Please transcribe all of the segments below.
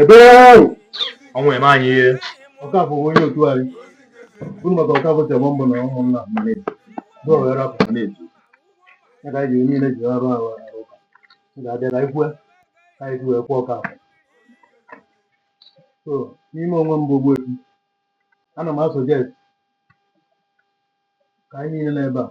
ebe ahụ ọnwụ emee anyị ihe Ọkafọ bụ onye otu anyị unu maka Ọkafọ tebọ mbụ na ụmụnna mmadụ bụ ọghara afọ na-etu ya ka anyị ji niile ji arụ arụ arụ ụka m ga-abịa ka anyị kwue ka anyị wee kwaa Ọkafọ so n'ime onwe m bụ ogbuefi ana m asuggest ka anyị niile n'ebe a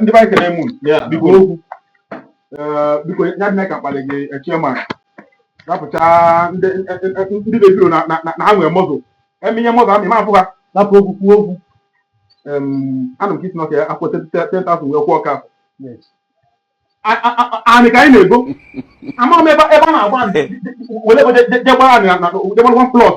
ndị be anyị ekele m unu biko okwu biko ya adị ka m kpalị gị chairman rapụcha ndị na-ebiro na ha nwere mọzụ eme ihe mọzụ amị ma afụ ha napụ okwu kwuo okwu anụ m ka ị sị nọka ya akwụ 10,000 wee kwaa ọka anị ka anyị na-ego ama m ebe a na-agba were jegbara anị na jegbara one plot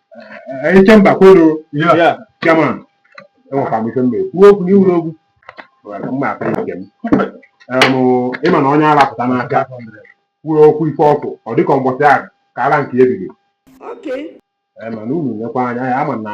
anyị Ikemba kwenu ya chairman enwekwa m ife m ga-ekwu okwu na iwuru okwu mma aka ike m Em, ịma na onye ara pụta n'aka kwuo okwu ife o kwu ọ dịka mbọsị ahụ ka ara nke ebido Okay. Em, mana unu nyekwa anya ya ama na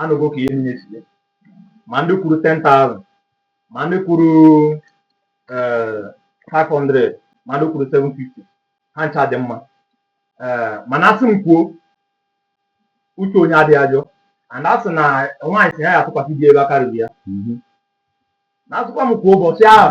anụgo ka ihe niile si je ma ndị kwuru 10,000 ma ndị kwuru 500 ma ndị kwuru 750 ha ncha dị mma mana asị m kwuo uche onye adịghị ya njọ and a sị na nwaanyị sị na ya atụkwasị di ebe aka ruru ya na asịkwa m kwuo ụbọchị ahụ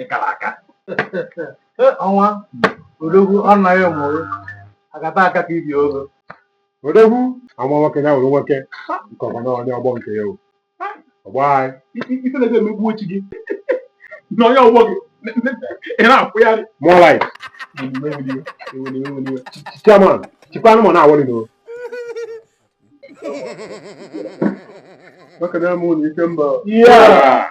ị kara aka ọnwa odogwu anaghị mụrụ agata aka ka ibi ogo odogwu ama nwoke ya nwere nwoke nke ọma na onye ọgbọ nke ya o ọgbọ anyị ife na-ebe emegbu ochi gị na onye ọgbọ gị ị na-akwụgharị more life chairman chikwa anụmanụ na-aworry n'o maka na mụ na Ikemba Yeah.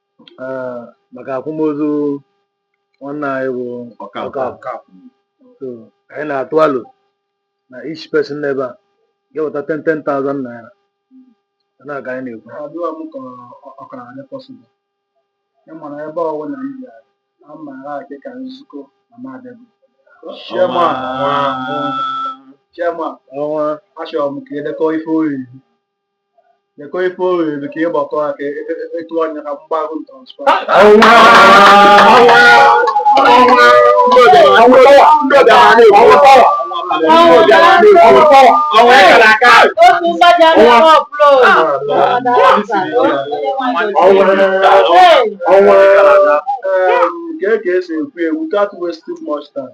eh, maka akwamozu nwanne anyị bụ Ọkafọ. So, anyị na-atụ alo na each person n'ebe a ga-eweta 10 10,000 naira na ka anyị na-ekwu adịghị m ka ọ- ọ kara adị possible ị mara ebe ọwụ na ndị a na mma ha dị ka nzukọ na madịbụ chairman chairman ọnwa achọrọ m ka e dekọ ife o riri Dekọ ife o riri ka ị gbakọ ha ka etu anya ka m gbaara transfer. otu mgbaja na ọbụla Ee, ka e ka e si ekwu ya, without wasting much time.